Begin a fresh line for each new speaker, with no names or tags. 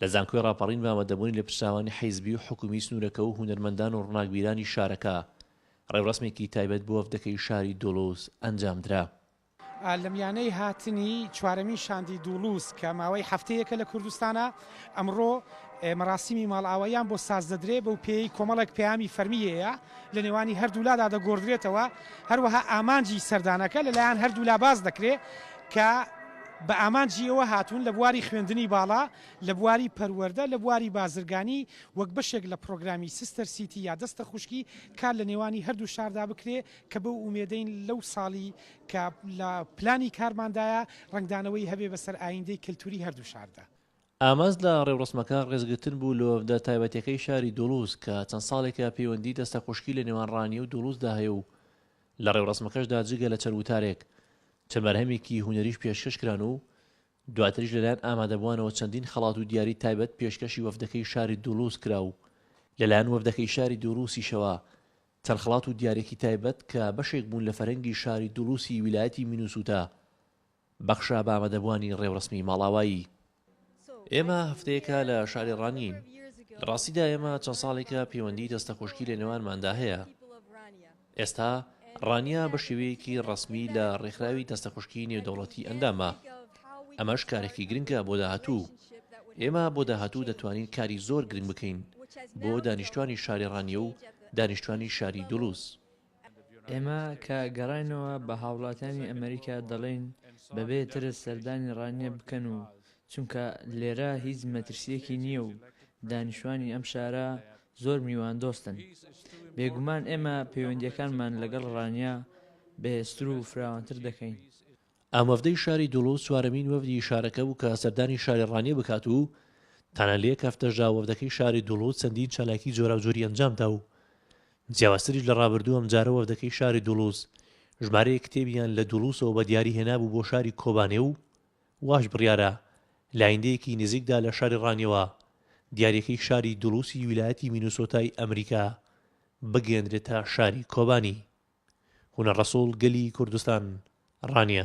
لە زانکۆی ڕاپەڕین بە ئامادەبوونی لێپرسراوانی حیزبی و حکوومی سنوورەکە و هونەرمەندان و ڕووناکبیرانی شارەکە، ڕێوڕەسمێکی تایبەت بۆ وەفدەکەی شاری دوڵوز ئەنجامدرا.
لەمیانەی هاتنی چوارەمین شاندی دوڵوز کە ماوەی هەفتەیەکە لە کوردستانە، ئەمڕۆ مەراسیمی ماڵئاواییان بۆ سازدەدرێ، بەوپێیەی کۆمەڵێک پەیامی فەرمیی هەیە. لە نێوانی هەردوولادا دەگۆڕدرێتەوە، هەروەها ئامانجی سەردانەکە لەلایەن هەردوولا باس دەکرێت کە بە ئامانجی ئەوە هاتوون لە بواری خوێندنی باڵا، لە بواری پەروەردە، لە بواری بازرگانی وەک بەشێک لە پرۆگرامی سستەر سیتی یا دەستە خوشکی کار لە نێوانی هەردوو شاردا بکرێت کە بەو ئومێدەین لەو ساڵی کە لە پلانی کارماندایە رەنگدانەوەی هەبێت بەسەر ئایندەی کەلتوری هەردوو شاردا. ئامانج لە
ڕێوڕەسمەکە ڕێزگرتن بوو لە وەفدە تایبەتیەکەی شاری دوڵوز کە چەند ساڵێکە پەیوەندی دەستەخوشکی لە نێوان ڕانیە و دوڵوزدا هەیە و لە ڕێوڕەسمەکەشدا جگە لە چەند وتارێک چەند بەرهەمێکی هونەریش پێشکەش کران و دواتریش لەلایەن ئامادەبوانەوە چەندین خەڵات و دیاری تایبەت پێشکەشی وەفدەکەی شاری دوڵوز کرا و لەلایەن وەفدەکەی شاری دوڵوسیشەوە چەند خەڵات و دیارێکی تایبەت کە بەشێک بوون لە فەرهەنگی شاری دوڵوسی ویلایەتی مینوسوتا بەخشە بە ئامادەبووانی ڕێوڕەسمی ماڵاوایی. ئێمە هەفتەیەکە لە شاری ڕانیین. لە ڕاستیدا ئێمە چەند ساڵێکە پەیوەندیی دەستەخۆشکی لە نێوانماندا هەیە. ئێستا ڕانیە بە شێوەیەکی ڕەسمی لە ڕێکخراوی دەستەخۆشکی نێودەوڵەتی ئەندامە. ئەمەش کارێکی گرنگە بۆ داهاتوو. ئێمە بۆ داهاتوو دەتوانین کاری زۆر گرنگ بکەین بۆ دانیشتوانی شاری ڕانیە و دانیشتوانی شاری دولوز. ئێمە
کە گەڕاینەوە بە هاوڵاتیانی ئەمەریکا دەڵێین بەبێ ترس سەردانی ڕانیە بکەن و چونکە لێرە هیچ مەترسیەکی نییە و دانیشوانی ئەم شارە زۆر میوان دۆستن بێگومان ئێمە پەیوەندیەکانمان لەگەڵ ڕانیە بەهێزتر و فراوانتر دەکەین. ئەم وەفدەی
شاری دولوز چوارەمین وەفدی شارەکە بوو کە سەردانی شاری ڕانیە بکات و تەنە لە یەک هەفتەشدا وەفدەکەی شاری دولوز چەندین چالاکی جۆراوجۆری ئەنجامدا و جیاوازتریش لە ڕابردوو ئەمجارە وەفدەکەی شاری دولوز ژمارەیەک کتێبیان لە دولوزەوە بە دیاری هێنابوو بۆ شاری کۆبانێ و واش بڕیارە لە ئایندەیەکی نزیکدا لە شاری ڕانیەوە دیاریەکەی شاری دولوسی ویلایەتی مینوسۆتای ئەمریکا بگەێنرێتە شاری کۆبانی. هونەر ڕەسوڵ گەلی کوردستان ڕانیە.